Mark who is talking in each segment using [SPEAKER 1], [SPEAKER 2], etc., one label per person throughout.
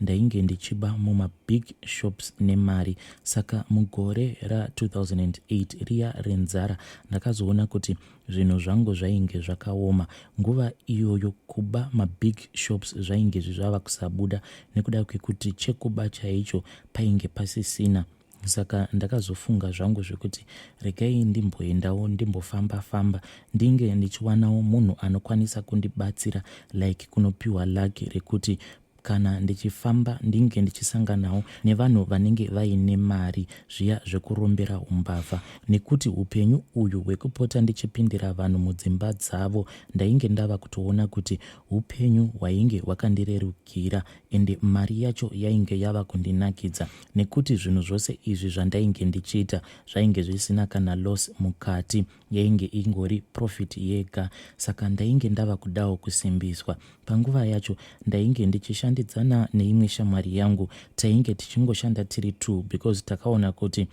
[SPEAKER 1] ndainge ndichiba mumabig shops nemari saka mugore ra2008 riya renzara ndakazoona kuti zvinhu zvangu zvainge zvakaoma nguva iyoyo kuba mabig shops zvainge zvizvava kusabuda nekuda kwekuti chekuba chaicho painge pasisina saka ndakazofunga zvangu zvekuti regai ndimboendawo ndimbofamba famba ndinge ndichiwanawo munhu anokwanisa kundibatsira like kunopiwa laki rekuti kana ndichifamba ndinge ndichisanganawo nevanhu vanenge vaine mari zviya zvekurombera umbavha nekuti upenyu uyu hwekupota ndichipindira vanhu mudzimba dzavo ndainge ndava kutoona kuti upenyu hwainge hwakandirerukira ende mari yacho yainge yava kundinakidza nekuti zvinhu zvose izvi zvandainge ndichiita zvainge zvisina kana loss mukati yainge ingori profit yega saka ndainge ndava kudawo kusimbiswa panguva yacho ndainge ndichishandidzana neimwe shamwari yangu tainge tichingoshanda tiri two because takaona kuti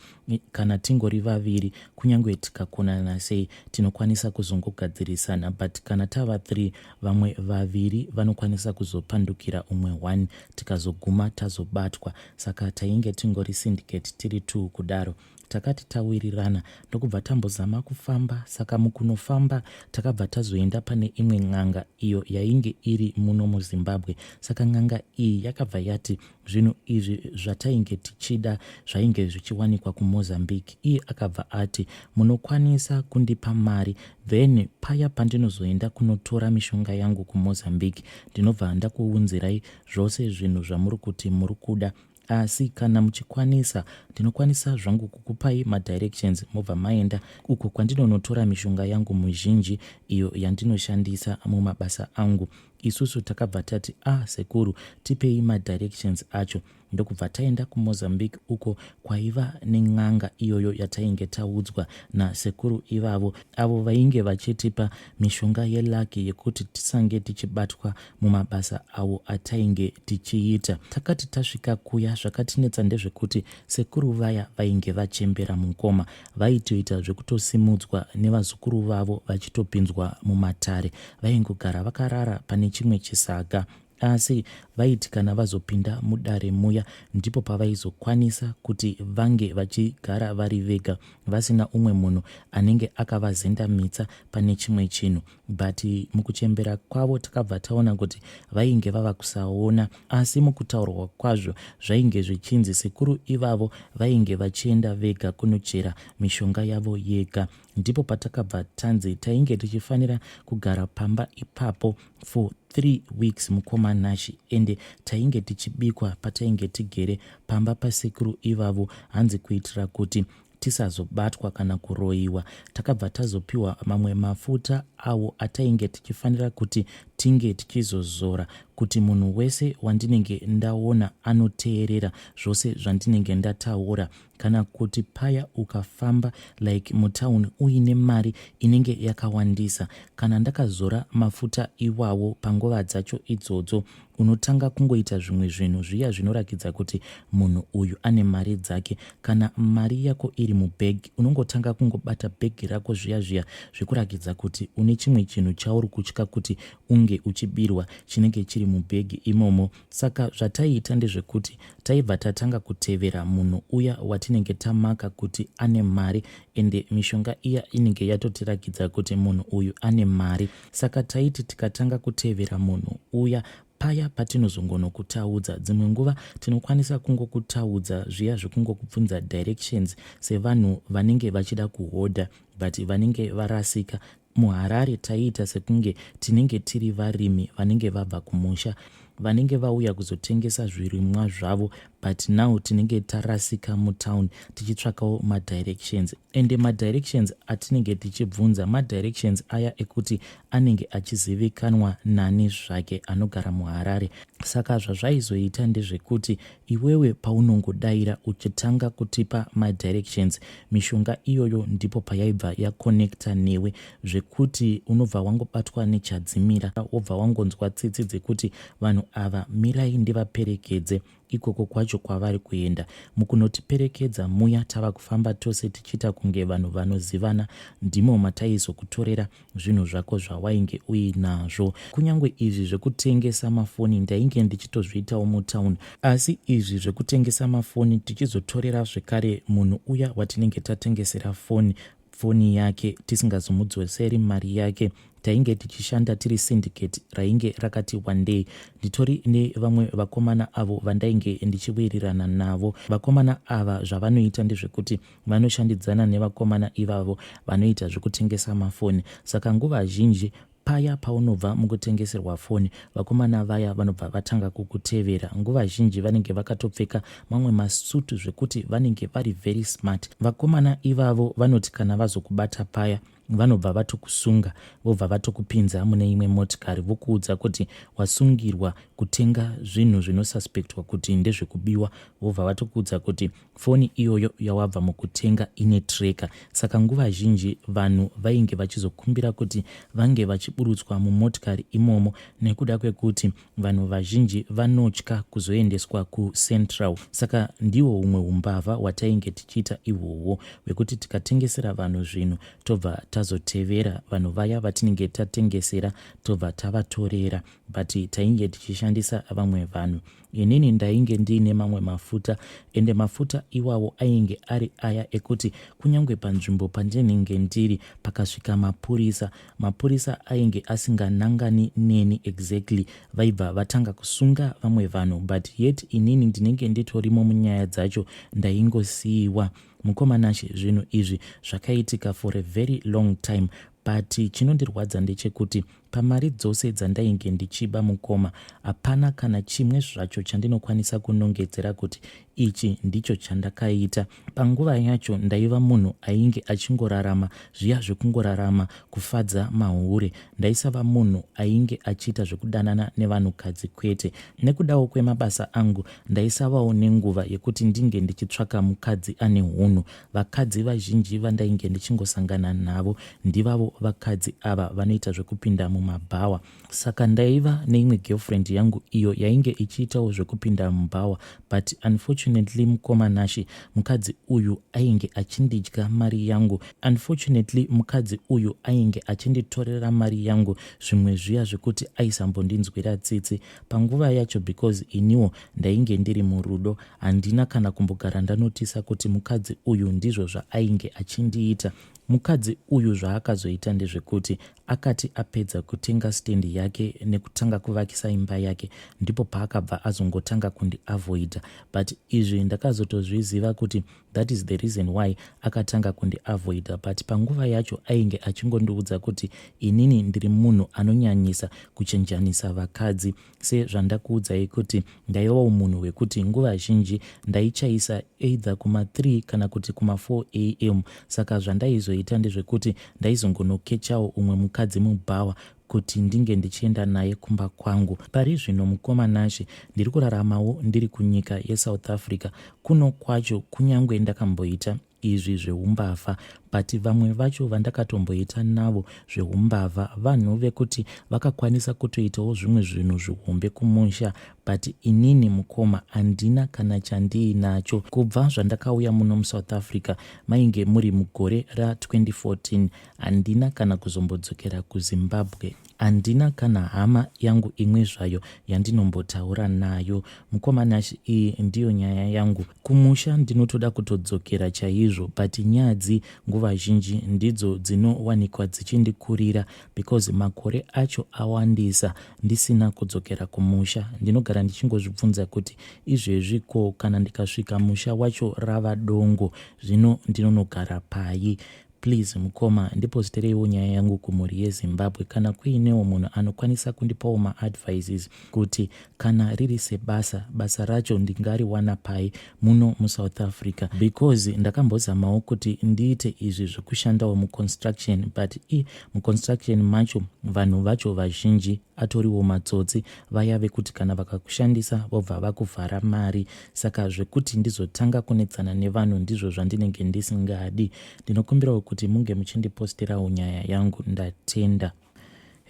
[SPEAKER 1] kana tingori vaviri kunyange tikakonana sei tinokwanisa kuzongogadzirisana but kana tava three vamwe vaviri vanokwanisa kuzopandukira umwe one tikazoguma tazobatwa saka tainge tingori syndicate tiri two kudaro takati tawirirana ndokubva tambozama kufamba saka mukunofamba takabva tazoenda pane imwe n'anga iyo yainge iri muno muzimbabwe saka n'anga iyi yakabva yati zvinhu izvi zvatainge tichida zvainge zvichiwanikwa kumozambique iye akabva ati munokwanisa kundipa mari then paya pandinozoenda kunotora mishonga yangu kumozambique ndinobva ndakuunzirai zvose zvinhu zvamuri kuti muri kuda asi kana muchikwanisa ndinokwanisa zvangu kukupai madirections mobva maenda uko kwandinonotora mishonga yangu muzhinji iyo yandinoshandisa mumabasa angu isusu takabva tati a ah, sekuru tipei madirections acho ndokubva taenda kumozambique uko kwaiva nen'anga iyoyo yatainge taudzwa nasekuru ivavo avo vainge vachitipa mishonga yelaki yekuti tisange tichibatwa mumabasa awo atainge tichiita. Takati tasvika kuya zvakatinetsa ndezvekuti sekuru vaya vainge vachembera mukoma vaitoita zvekutosimudzwa nevazukuru vavo vachitopinzwa mumatare. Vaingogara vakarara pane chimwe chisaga asi vaiti kana vazopinda mudare muya ndipo pavaizokwanisa kuti vange vachigara vari vega vasina umwe munhu anenge akavazendamitsa pane chimwe chinhu but mukuchembera kwavo takabva taona kuti vainge vava kusaona asi mukutaurwa kwazvo zvainge zvichinzi sekuru ivavo vainge vachienda vega kunochera mishonga yavo yega ndipo patakabva tanzi tainge tichifanira kugara pamba ipapo for three weeks mukoma nashi ende tainge tichibikwa patainge tigere pamba pasekuru ivavo hanzi kuitira kuti tisazobatwa kana kuroyiwa takabva tazopiwa mamwe mafuta awo atainge tichifanira kuti tinge tichizozora kuti munhu wese wandinenge ndaona anoteerera zvose zvandinenge ndataura kana kuti paya ukafamba like mutown uine mari inenge yakawandisa kana ndakazora mafuta iwawo panguva dzacho idzodzo unotanga kungoita zvimwe zvinhu zviya zvinorakidza kuti munhu uyu ane mari dzake kana mari yako iri mubhegi unongotanga kungobata bhegi rako zviya zviya zvekurakidza kuti une chimwe chinhu chauri kutya kuti unge uchibirwa chinenge chiri mubhegi imomo saka zvataiita ndezvekuti taibva tatanga kutevera munhu uya watinenge tamaka kuti ane mari ende mishonga iya inenge yatotirakidza kuti munhu uyu ane mari Saka taiti tikatanga kutevera munhu uya paya patinozongonokutaudza dzimwe nguva tinokwanisa kungokutaudza zviya zvekungokubvunza directions sevanhu vanenge vachida kuhodha but vanenge varasika muharare taiita sekunge tinenge tiri varimi vanenge vabva kumusha vanenge vauya kuzotengesa zvirimwa zvavo but now tinenge tarasika mutown tichitsvakawo madirections ende madirections atinenge tichibvunza madirections aya ekuti anenge achizivikanwa nani zvake anogara muharare saka zvazvaizoita ndezvekuti iwewe paunongodaira uchitanga kutipa madirections mishonga iyoyo ndipo payaibva yaconnecta newe zvekuti unobva wangobatwa nechadzimira wobva wangonzwa tsitsi dzekuti vanhu ava mirai ndivaperekedze ikoko kwacho kwavari kuenda mukunotiperekedza muya tava kufamba tose tichiita kunge vanhu vanozivana ndimo mataizokutorera zvinhu zvako zvawainge uinazvo kunyange izvi zvekutengesa mafoni ndainge ndichitozviitawo mutown asi izvi zvekutengesa mafoni tichizotorera zvekare munhu uya watinenge tatengesera foni foni yake tisingazomudzoseri mari yake tainge tichishanda tiri syndicate rainge rakati wandei nditori nevamwe vakomana avo vandainge ndichiwirirana navo vakomana ava zvavanoita ndezvekuti vanoshandidzana nevakomana ivavo vanoita zvekutengesa mafoni saka nguva zhinji Paya paunobva mukutengeserwa foni, vakomana vaya vanobva vatanga kukutevera. Nguva zhinji vanenge vakatopfeka mamwe masutu zvekuti vanenge vari very smart. Vakomana ivavo vanoti kana vazokubata paya vanobva vatokusunga vobva vatokupinza mune imwe motikari vokuudza kuti wasungirwa kutenga zvinhu zvinosuspectwa kuti ndezvekubiwa vobva vatokuudza kuti Foni iyoyo yawabva mukutenga ine tracker, saka nguva zhinji vanhu vainge vachizokumbira kuti vange vachiburutswa mumotikari imomo nekuda kwekuti vanhu vazhinji vanotya kuzoendeswa kuCentral. Saka ndiwo umwe umbavha hwatainge tichiita ihwohwo hwekuti tikatengesera vanhu zvinhu tobva tazotevera vanhu vaya vatinenge tatengesera tobva tavatorera but tainge tichishandisa vamwe vanhu. Inini ndainge ndiine mamwe mafuta ende mafuta iwawo ainge ari aya ekuti kunyange panzvimbo pandinenge ndiri pakasvika mapurisa, mapurisa ainge asinganangani neni exactly. Vaibva vatanga kusunga vamwe vanhu but yet inini ndinenge nditorimo munyaya dzacho ndaingosiiwa. Mukoma Nashe zvinhu izvi zvakaitika for a very long time But chinondirwadza ndechekuti pamari dzose dzandainge ndichiba mukoma hapana kana chimwe zvacho chandinokwanisa kunongedzera kuti ichi ndicho chandakaita panguva yacho ndaiva munhu ainge achingorarama zviya zvekungorarama kufadza mahure ndaisava munhu ainge achiita zvekudanana nevanhukadzi kwete nekudawo kwemabasa angu ndaisavawo nenguva yekuti ndinge ndichitsvaka mukadzi ane hunhu Vakadzi vazhinji vandainge ndichingosangana navo ndivavo vakadzi ava vanoita zvekupinda mumabhawa. Saka ndaiva neimwe girlfriend yangu iyo yainge ichiitawo zvekupinda mubhawa but unfortunately mukoma Nashy mukadzi uyu ainge achindidya mari yangu. Unfortunately mukadzi uyu ainge achinditorera mari yangu zvimwe zviya zvekuti aisambondinzwira tsitsi. panguva yacho because iniwo ndainge ndiri murudo handina kana kumbogara ndanotisa kuti mukadzi uyu ndizvo zvaainge achindiita mukadzi uyu zvaakazoita ndezvekuti akati apedza kutenga stendi yake nekutanga kuvakisa imba yake ndipo paakabva azongotanga kundiavoida but izvi ndakazotozviziva kuti that is the reason why akatanga kundiavoida but panguva yacho ainge achingondiudza kuti inini ndiri munhu anonyanyisa kuchenjanisa vakadzi sezvandakuudzai kuti ndaivawo munhu wekuti nguva zhinji ndaichaisa either kuma3 kana kuti kuma4 am saka zvandaizoita ndezvekuti ndaizongonokechawo umwe mukadzi mubhawa kuti ndinge ndichienda naye kumba kwangu. Pari zvino mukoma Nashe ndiri kuraramawo ndiri kunyika yeSouth Africa. Kuno kwacho kunyange ndakamboita izvi zveumbavha but vamwe vacho vandakatomboita navo zveumbavha vanhu vekuti vakakwanisa kutoitawo zvimwe zvinhu zvihombe kumusha but inini mukoma handina kana chandiinacho kubva zvandakauya muno musouth africa mainge muri mugore ra 2014 Handina kana kuzombodzokera kuZimbabwe. Handina kana hama yangu imwe zvayo yandinombotaura nayo. Mukoma Nash iyi ndiyo nyaya yangu. Kumusha ndinotoda kutodzokera chaizvo but nyadzi nguva zhinji ndidzo dzinowanikwa dzichindikurira because makore acho awandisa ndisina kudzokera kumusha. Ndinogara ndichingozvibvunza kuti izvezvi ko kana ndikasvika musha wacho rava dongo zvino ndinonogara pai? Please mukoma ndipositereiwo nyaya yangu kumhuri yezimbabwe kana kuinewo munhu anokwanisa kundipawo maadvices kuti kana riri sebasa basa racho ndingariwana pai muno musouth africa because ndakambozamawo kuti ndiite izvi zvekushandawo muconstruction but i muconstruction macho vanhu vacho vazhinji atoriwo matsotsi vaya vekuti kana vakakushandisa vobva vakuvhara mari saka zvekuti ndizotanga kunetsana nevanhu ndizvo zvandinenge ndisingadi ndinokumbirawo kuti munge muchindipostirawo nyaya yangu ndatenda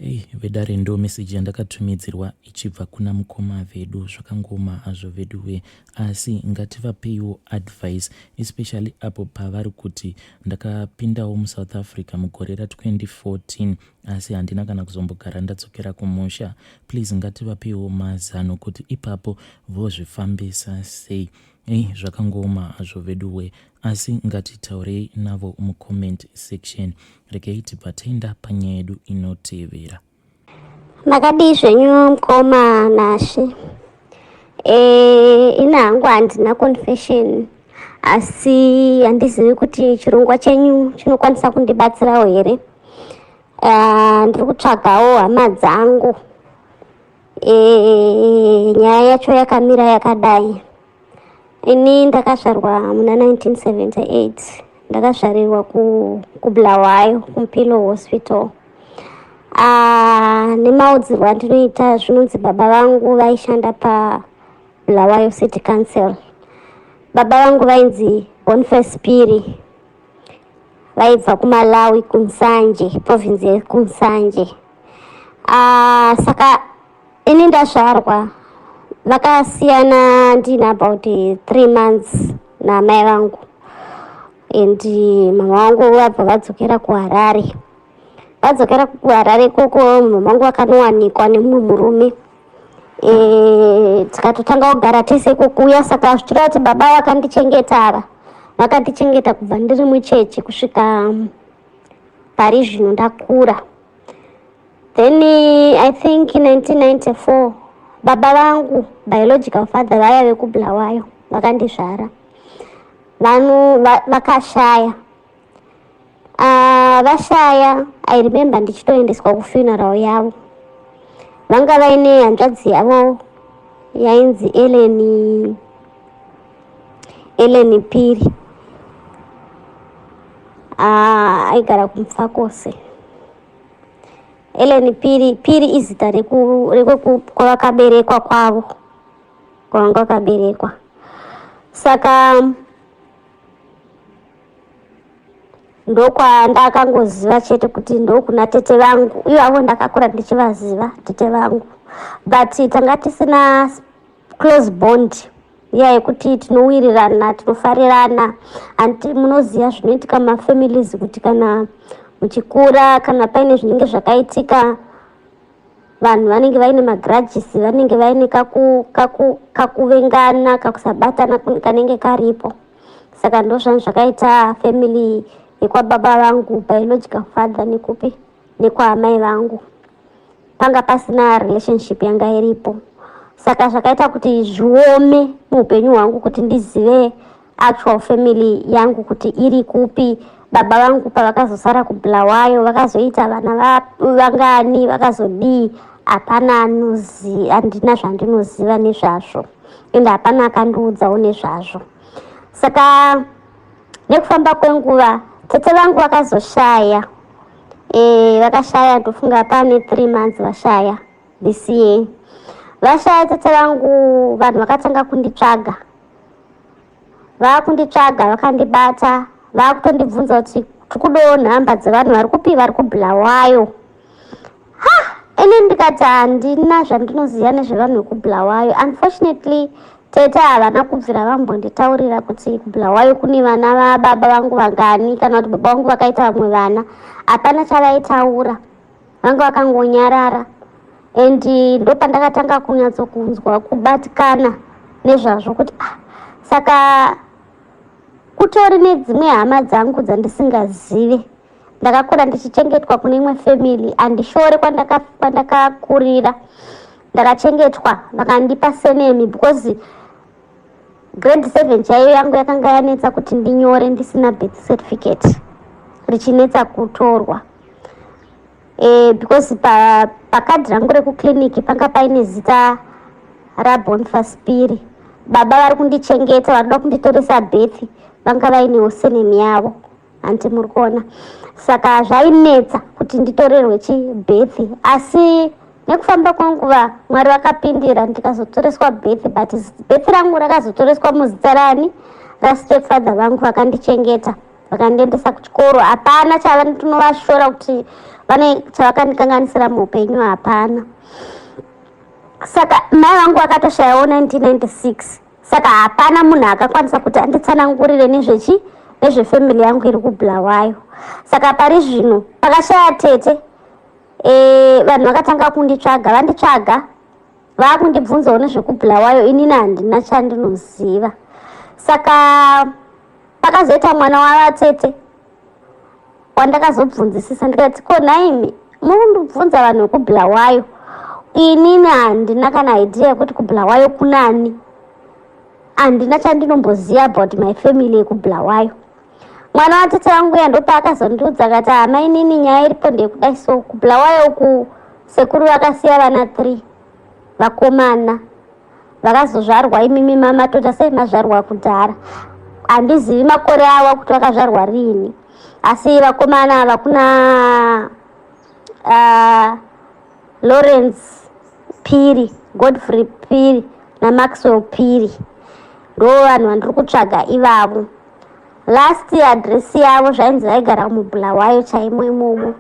[SPEAKER 1] Hey, vedare ndo meseji yandakatumidzirwa ichibva kuna mukoma vedu zvakangoma hazvo veduwe asi ngativapeiwo advice especially apo pavari kuti ndakapindawo musouth africa mugore ra 2014 asi handina kana kuzombogara ndadzokera kumusha please ngativapiwo mazano kuti ipapo vozvifambisa sei ei zvakangooma hazvo veduwe asi ngatitaurei navo mucomment section rekei tibvatenda panyaya yedu inotevera
[SPEAKER 2] makadii zvenyu mkoma nashe Eh, ina hangu handina confession asi handizivi kuti chirongwa chenyu chinokwanisa kundibatsirawo here uh, ndiri kutsvagawo hama dzangu e, nyaya yacho yakamira yakadai Ini ndakazvarwa muna 1978 ndakazvarirwa ku, kubulawayo kumpilo hospital ah, nemaudzirwo andinoita zvinonzi baba vangu vaishanda pabulawayo city council baba vangu vainzi bonface piri vaibva kumalawi kunsanje province yekunsanje ah, saka Ini ndazvarwa vakasiyana ndine about three months namai vangu and mama vangu vabva vadzokera kuharare vadzokera kuharare ikoko mama vangu vakanowanikwa nemumwe murume eh, tikatotanga kugara tese kukuya saka zvichira kuti baba vakandichengeta ava vakandichengeta kubva ndiri mucheche kusvika pari zvino ndakura Then I think 1994 baba vangu biological father vaya vekubulawayo vakandizvara vanhu vakashaya ah, vashaya i remember ndichitoendeswa kufuneral yavo vanga vaine hanzvadzi yavo yainzi eleni eleni piri ah, aigara kumfakose Ellen Piri, Piri izita rekwakaberekwa kwavo kwavanga vakaberekwa saka ndokwandakangoziva chete kuti ndokuna tete vangu ivo avo ndakakura ndichivaziva tete vangu but tanga tisina close bond iya yekuti tinowirirana tinofarirana and munoziva zvinoitika mafamilies kuti kana muchikura kana paine zvinenge zvakaitika vanhu vanenge vaine magrudges vanenge vaine kakuvengana kakusabatana kanenge karipo saka ndozvanhu zvakaita family yekwababa vangu biological father nekupi nekwaamai vangu panga pasina relationship yanga iripo saka zvakaita kuti zviome muupenyu hwangu kuti ndizive actual family yangu kuti iri kupi baba vangu pavakazosara kubulawayo vakazoita vana vangani vakazodii hapana anozi handina zvandinoziva nezvazvo ende hapana akandiudzawo nezvazvo saka nekufamba kwenguva tete vangu vakazoshaya e, vakashaya ndofunga pane three months vashaya this year vashaya tete vangu vanhu vakatanga kunditsvaga vakunditsvaga vakandibata vakutondibvunza kuti tikudowo nhamba dzevanhu vari kupi vari kubulawayo ha ini ndikati handina zvandinoziva nezvevanhu vekubulawayo unfortunately tete havana kubvira vambonditaurira kuti kubulawayo kune vana vababa vangu vangani kana kuti baba vangu vakaita vamwe vana hapana chavaitaura vanga vakangonyarara and ndopandakatanga kunyatsokunzwa kubatikana nezvazvo kuti ah, saka kutori nedzimwe hama dzangu dzandisingazive ndakakura ndichichengetwa kune imwe family andishore kwandakakurira ndakachengetwa vakandipa senemi because grade seven chaiyo yangu yakanga yanetsa kuti ndinyore ndisina birth certificate richinetsa kutorwa e, because pakadhi pa rangu rekuclinic panga paine zita rabonfaspiri baba vari kundichengeta vanoda kunditoresa birth vanga vainewo senemi yavo hanti muri kuona saka zvainetsa kuti nditorerwe chibhethi asi nekufamba kwenguva mwari vakapindira ndikazotoreswa bhethi but bhethi rangu rakazotoreswa muzita rani rastepfather vangu vakandichengeta vakandiendesa kuchikoro hapana chavanotinovashora kuti vane chavakandikanganisira muupenyu hapana saka mai vangu vakatoshayawo 1996 saka hapana munhu akakwanisa kuti anditsanangurire nezvechi nezvefamily yangu iri kubulawayo saka pari zvino pakashaya tete e, vanhu vakatanga kunditsvaga vanditsvaga vakundibvunzawo nezvekubulawayo inini handina chandinoziva saka pakazoita mwana wavatete wandakazobvunzisisa ndikati ko nhaimi murundibvunza vanhu vekubulawayo inini handina kana idea yekuti kubulawayo kunani handina chandinomboziva about my family yekubulawayo mwana watete vangu uya ndopaakazondiudza akati hama inini nyaya iripo ndeyekudai so kubulawayo uku sekuru vakasiya vana three vakomana vakazozvarwa imimi mama tota sei mazvarwa kudhara handizivi makore awa kuti vakazvarwa riini asi vakomana ava kuna uh, lawrence piri godfrey piri namaxwell piri ndo vanhu vandiri kutsvaga ivavo last adress yavo zvainzi vaigara mubulawayo chaimo imomo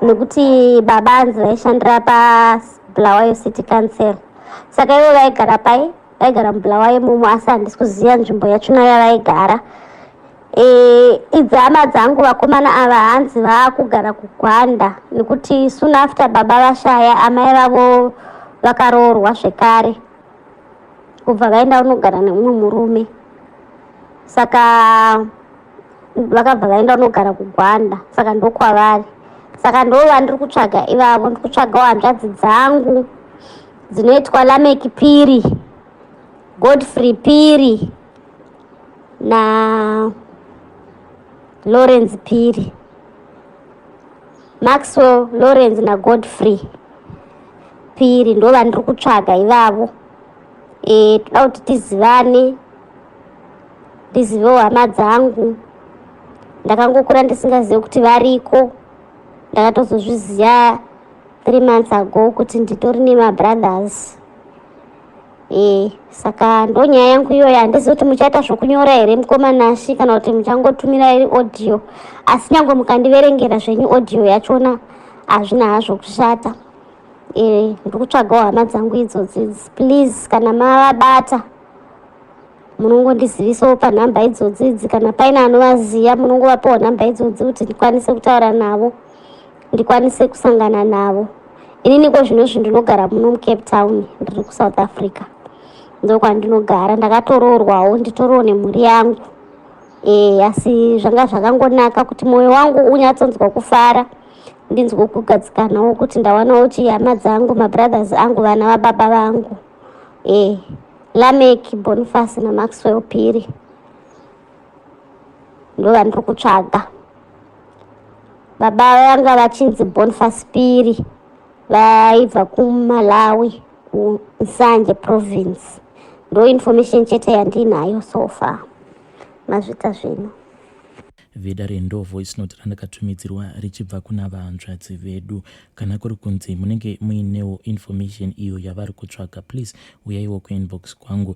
[SPEAKER 2] nekuti baba anzi vaishandira pabulawayo city council saka ivo vaigara pai vaigara mubulawayo imomo asi handisi kuziva nzvimbo yachona yavaigara e, idzama dzangu vakomana ava hanzi vaakugara kugwanda nekuti soon after baba vashaya amai vavo vakaroorwa zvekare kubva vaenda vanogara neumwe murume saka vakabva vaenda vanogara kugwanda saka ndokwavari saka ndo vandiri kutsvaga ivavo ndiri kutsvagawo hanzvadzi dzangu dzinoitwa lamek piri godfrey piri na lawrence piri maxwell lawrence nagodfrey Phiri ndo vandiri kutsvaga ivavo eh, toda kuti tizivane ndizivewo hama dzangu ndakangokura ndisingazive kuti variko ndakatozozviziva three months ago kuti nditori nemabrothers e, saka ndonyaya yangu iyoyo handizi kuti muchaita zvokunyora here mukoma nashi kana kuti muchangotumira iri audio asi nyange mukandiverengera zvenyu audio yachona hazvina hazvo kushata e, ndikutsvagawo hama dzangu idzodzi please kana mavabata munongondizivisawo panhamba idzodzidzi kana paine anovaziva munongovapawo nhamba idzodzii kuti ndikwanise kutaura navo ndikwanise kusangana navo inini ko zvino zvi ndinogara muno mucape town ndiri kusouth africa ndokwandinogara ndakatoroorwawo nditoroo nemhuri yangu e, asi zvanga zvakangonaka kuti mwoyo wangu unyatsonzwa kufara ndinzwe kugadzikanawo kuti ndawanawo chihama dzangu mabrothers angu vana vababa vangu e, lamek bonifasi namaxwell piri ndovandiri kutsvaga baba vanga vachinzi bonfaspiri vaibva kumalawi kunsanje province ndo information chete yandinayo so far mazvita zvino veda
[SPEAKER 1] rendo voice note randakatumidzirwa richibva kuna vahanzvadzi vedu kana kuri kunzi munenge muinewo information iyo yavari kutsvaga please uyaiwo kuinbox kwangu